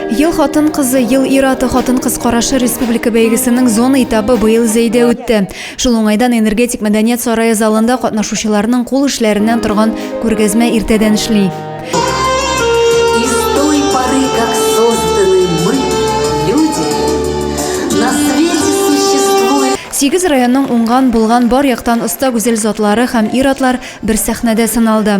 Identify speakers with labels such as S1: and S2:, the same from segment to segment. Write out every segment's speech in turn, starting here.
S1: Ел хатын-кызы, ел ир-аты хатын-кыз карашы республика бәйгесенең зона этабы быел Зәйдә үтте. Шул уңайдан энергетик мәдәният сарае залында катнашучыларның кул эшләреннән торган күргәзмә иртәдән эшли.
S2: Сигез районның
S1: уңган, булган бар яктан оста гүзәл затлары һәм ир-атлар бер сәхнәдә сыналды.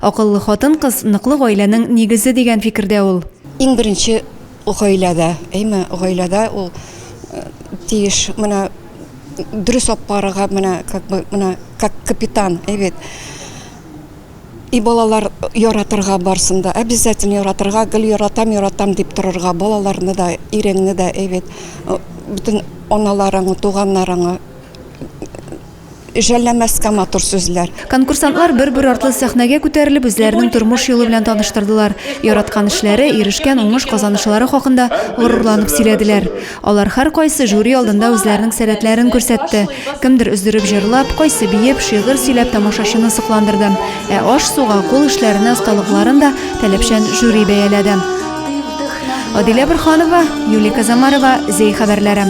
S1: Акыллы хатын-кыз, ныклы гаиләнең нигезе дигән фикердә ул. Иң беренче
S3: гаиләдә, әйме, гаиләдә ул тиеш менә дөрес алып барырга, менә как бы менә как капитан, әй бит. И балалар яратырга барсын да, обязательно яратырга, гел яратам, яратам дип торырга, балаларны да, иреңне дә, әй бит, бөтен аналарың, туганнарың. Жәлләмәскә матур сүзләр. Конкурсантлар бер-бер
S1: артлы сәхнәгә күтәрелеп, үзләренең тормыш юлы белән таныштырдылар, яраткан эшләре, ирешкән уңыш казанышлары хакында горурланып сөйләделәр. Алар һәркайсы жюри алдында үзләренең сәләтләрен күрсәтте. Кемдер өздереп җырлап, кайсы биеп, шигырь сөйләп тамашачыны сокландырды. Ә аш-суга, кул эшләренә осталыкларын да таләпчән жюри бәяләде. Адилә Борһанова, Юлия Казамарова, Зәй хәбәрләре.